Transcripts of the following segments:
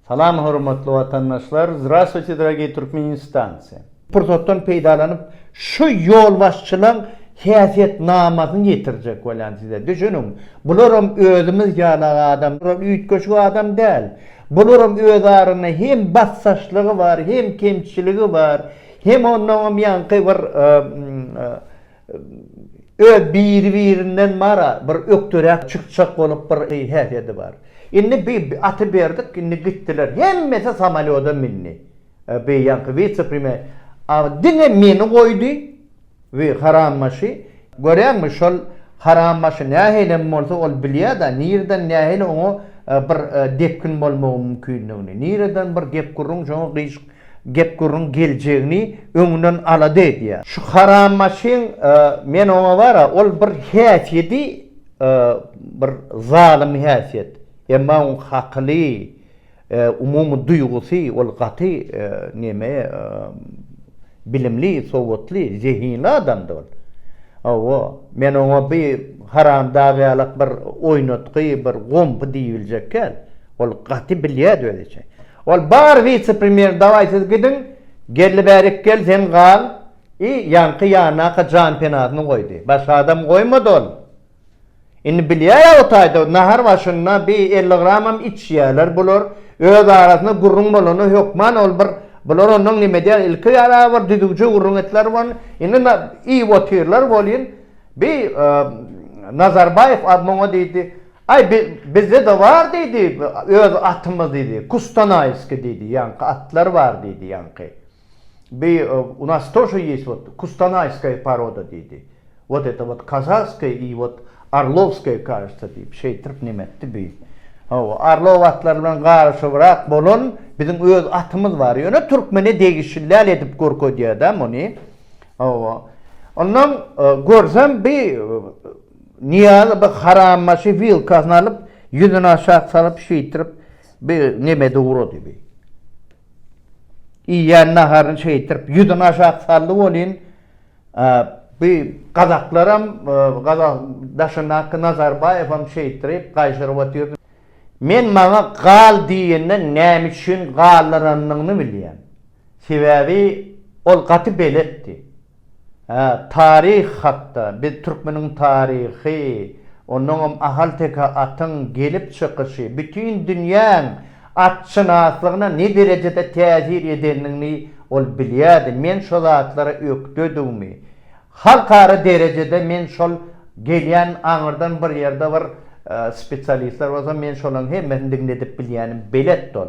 Salam hormatly watandaşlar! Zdravstvuyte dragee Türkmeniň stansiýa! Pursatdan peýdalanyp şu ýolbaşçylaň häsiýet namasyny ýetirjek bolýan size. Düşüniň, bularam özümiz ýaly adam, bular üýtgeşik adam däl. Bularam öz aranda hem basdaşlygy bar, hem kemçiligi bar, hem onnoňam ýaňky bir Öz biri-birinden mara bir ökderäk çykjak bolup bir häsiýedi bar. Indi bi aty berdik, indi gitdiler. Hemmesi samolýoda mindi. Bi ýaňky wise-premýer a diňe meni goýdy, wi harambaşy. Görýäňmi, şol harambaşy nähilem bolsa ol bilýä-dä, nireden nähili oňa bir depgin bolmagyň mümkindigini, nireden bir gep-gürrüň şoňa gyşyk Gep-gürrüň geljegini öňünden alada edýär. Şu haram maşyn men oňa bara ol bir häsiýedi bir zalym häsiýet. Emma oň hakyly umumy duýgusy ol gaty neme bilimli sowatly zehinli adamdy ol. Hawa men oňa bi haramdag ýalak bir oýnatgy bir gompy diýibiljek kän. Ol gaty bilýädi özi çe. Ol bar wise premýer dawaý siz gidiň geldi bäri ikgel sen gal i ýaňky ýanaka jan penasyny goýdy başga adam goýmady ol indi bilýär ýa o taýda nahar başynda bi elli gramam içýäler bular öz arasynda gürrüň bolanda hökman ol bir bular ondan neme edýär ilki ýara bir düzüwje gürrüň etdiler bun indi iýip otyrlar welin bi nazarbaýew muňa diýdi Aý, bizde-de bar, diýdi, öz atymyz, diýdi, Kustanaýskiý, diýdi, ýaňky atlar bar, diýdi, ýaňky. Bi, u nas tože ýes wot kustanaýskaýa paroda, diýdi. Wot eto wot kazahskaýa i wot orlowskaýa, kažется, diýip, şeýtirip neme etdi bi. Hawa, orlow atlary bilen garyşybrak bolan biziň öz atymyz bar. Ýöne türkmene degişli däl edip görkezýär-dä muny. Hawa. Onnoň, görsem bi, Nyýazy bir harambaşy wilkasyny alyp, ýüzüni aşak salyp, şeýtirip, bi nemede urady bi. Iýýän naharyny şeýtirip, ýüzüni aşak saldy welin, a, bi gazaklaram, gaza daşyndaky Nazarbaýewem şeýtirip, gaýşyryp otyrdy. Men maňa gal diýende näme üçin galdyranyny bilýän. Sebäbi ol gaty beletdi. Hä, taryh hakda, biz türkmeniň taryhy, onuňam ahalteke atyň gelip çykyşy, bütin dünýäň atşynaslygyna ne derejede täsir edendigini ol bilýärdi, men şo zatlara ökdedigimi, halkara derejede men şol gelýän aňyrdan bir ýerde bir spesialistler bolsa men şolaryň hemmesini diňledip bilýänim beletdi ol.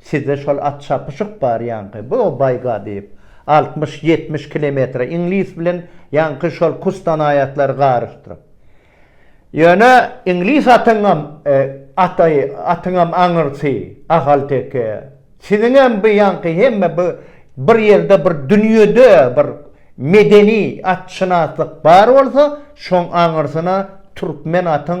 Sizde şol at çapyşyk bar ýaňky bu baýga diýip altmyş ýetmiş kilometre iňlis bilen ýaňky şol kustan aýatlary garyşdyryp. Ýöne iňlis atyňam ataý atyňam aňyrsy ahalteke siziňem bu ýaňky hemme bu bir ýerde bir dünýede bir medeni atşynaslyk bar bolsa şoň aňyrsyna türkmen atyň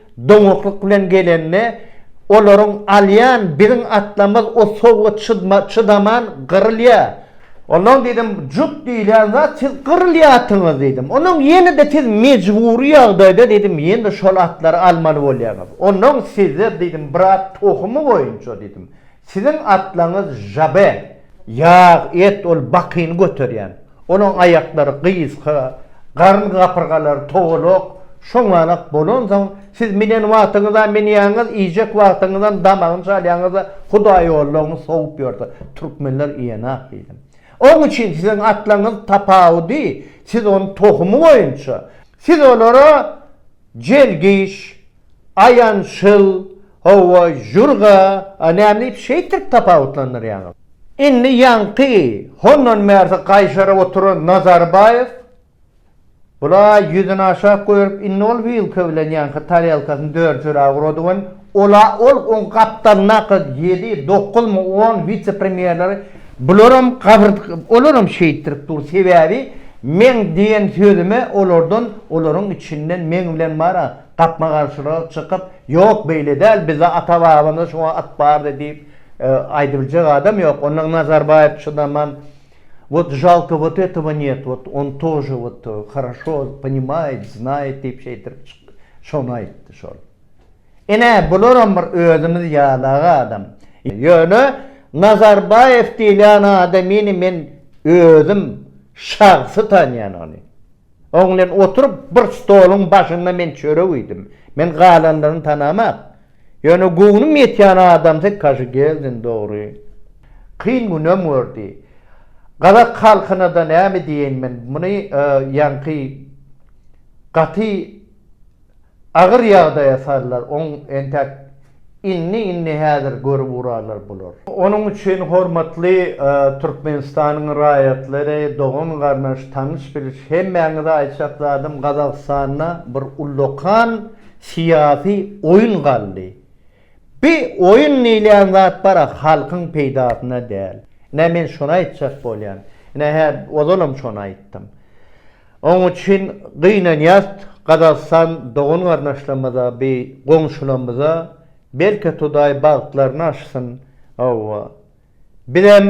Doňaklyk bilen gelende, olaryň alýan biziň atlarymyz o sowga çydaman gyrylýar. Ondan diýdim, jut diýilýän zat siz gyrylýarsyňyz diýdim. Ondan ýene-de siz mejbury ýagdaýda diýdim, ýene-de şol atlary almaly bolýaňyz. Ondan sizler diýdim, brat tohumy boýunça diýdim, Siziň atlaňyz Žabe. Ýag, et, ol bakyny göterýän. Onuň aýaklary gysga, garyn gapyrgalary togalak, şoňanak bolansoň, siz minen wagtyňyzam minýäňiz, iýjek wagtyňyzam damagyny çalýaňyz-da, hudaýollaryňyz sowup ýörse, türkmenler iýenak diýdim. Oň üçin siziň atlaňyz tapawudy, siz ony tohumy boýunça, siz olara jelgiş, Aýan şyl, Hawa, jürga, a nämdip şeýtdirip tapawutlandyrýaňyz? Indi ýaňky hondan bärsi gaýşaryp oturan Nazarbaýew bula-a ýüzüni aşak goýup, indi ol wilka bilen ýaňky tarelkasyny dörjüräk urady we ol-a ol oň gapdalyndaky ýedi, dokuzmy, on wise-premýerleri bularam gabyr olaram şeýtdirip dur, sebäbi meň diýen sözüme olardan, olaryň içinden meň bilen bar-a, Gapma-garşylyga çykyp, Ýok, beýle däl, bizde ata-babamyzda şuňa at bardy diýip, aýdybiljek adam ýok. Ondan Nazarbaýew çydaman, Wot žalko, wot etowo nýet, wot on tože, wot, horoşo, ponimaýet, znaýet diýip şeýtirip çykdy. Şony aýtdy şol. Ine, bularam bir özümiz ýalag adam. Ýöne Nazarbaýew diýilýän adamyny men özüm şahsy tanýan ony. Oň bilen oturyp, bir stoluň başynda men çörek iýdim. Men galanlaryny tanamok. Ýöne göwnüm ýetýän adamsy Kaşygeldin, dogry. Kyn günem gördi. Gazak halkyna-da näme diýeýin men, muny ýaňky gaty Agyr ýagdaýa sallar oň entäk inni inni häzir görüp urarlar bular. Onuň üçin hormatly Türkmenistanyň raýatlary, dogan garnaş, tanyş biliş hemmäňize aýtjak zadym Gazagystanda bir ullakan syýasy oýun galdy. Bi oýun diýilýän zat bara halkyň peýdasyna däl. Ine men şony aýtjak bolýan. Ine hä ozalam şony aýtdym. Oň üçin gynanýas Gazagystan dogan garnaşlamyza bi goňşulamyza belki Hudaý bagtlaryny açsyn Hawwa bizem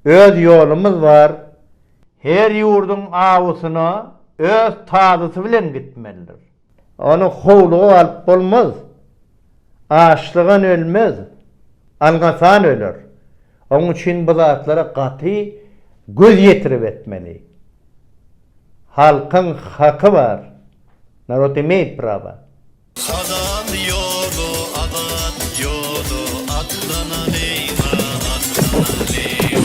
öz ýolumyz bar, her ýurduň awusyna öz tazysy bilen gitmelidir. Ony howluga alyp bolmaz. Açlygan ölmez, alňasan öler. Oň üçin bu zatlara gaty göz ýetirip etmeli. Halkyň haky bar. Narod imeýt praba. Azat ýoly, azat ýoly, atlanalyň-a, atlanalyň.